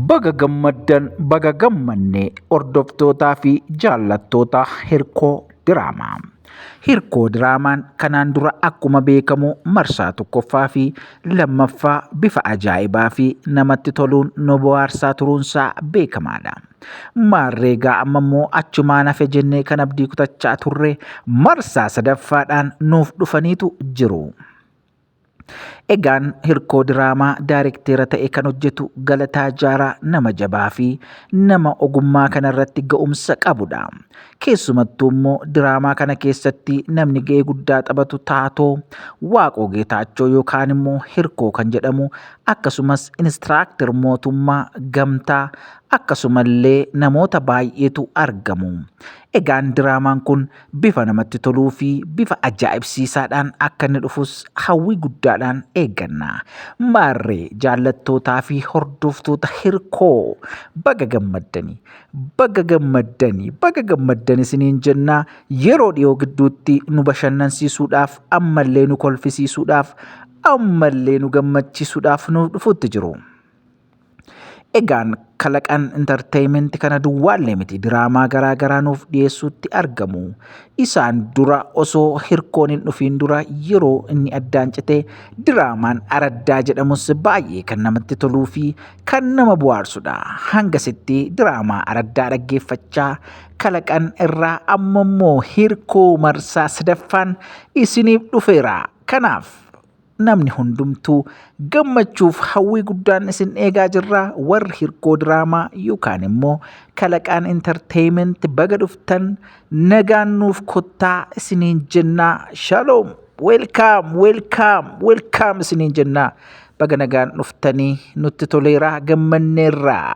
Baga gammaddan baga gammanne hordoftootaa fi jaallattoota hirkoo diraamaa. Hirkoo diraamaan kanaan dura akkuma beekamu marsaa tokkoffaa fi lammaffaa bifa ajaa'ibaa fi namatti toluun nu bohaarsaa turuunsaa beekamaadha. Maarreegaa amma immoo achumaan hafe jennee kan abdii kutachaa turre marsaa sadaffaadhaan nuuf dhufaniitu jiru. Egaan hirkoo diraamaa daarekteera ta'e kan hojjetu Galataa Jaaraa nama jabaa fi nama ogummaa kanarratti ga'umsa qabudha. Keessumattuu immoo diraamaa kana keessatti namni ga'ee guddaa taphatu taatoo Waaqoo Geetaachoo yookaan immoo hirkoo kan jedhamu akkasumas inistiraakter mootummaa gamtaa akkasumallee namoota baay'eetu argamu. Egaan diraamaan kun Bifa namatti toluu fi bifa ajaa'ibsiisaadhaan akka inni dhufus hawwii guddaadhaan eegganna. Maarree jaallattootaa fi hordoftoota hirkoo baga gammaddani. Baga gammaddani. Baga gammaddan isiniin jenna. Yeroo dhiyoo gidduutti nu bashannansiisuudhaaf ammallee nu kolfisiisuudhaaf ammallee nu gammachiisuudhaaf nuuf dhufutti jiru. Egaan kalaqaan intarteeyimenti kana duwwaallee miti diraamaa garaa garaa nuuf dhiyeessuutti argamu. Isaan dura osoo hirkoon hin dhufiin dura yeroo inni addaan cite diraamaan araddaa jedhamus baay'ee kan namatti toluu fi kan nama bu'aarsudha. Hangasitti diraamaa araddaa dhaggeeffachaa kalaqan irraa ammammoo hirkoo marsaa sadaffaan isiniif dhufeera. Kanaaf namni hundumtuu gammachuuf hawwii guddaan isin eegaa jirra warri hirkoo diraamaa yookaan immoo kalaqaan intarteeyimenti baga dhuftan nagaan nuuf kottaa isiniin jennaa shaloom weelkaam weelkaam weelkaam isiniin jennaa baga nagaan dhuftanii nutti toleeraa gammanneerraa.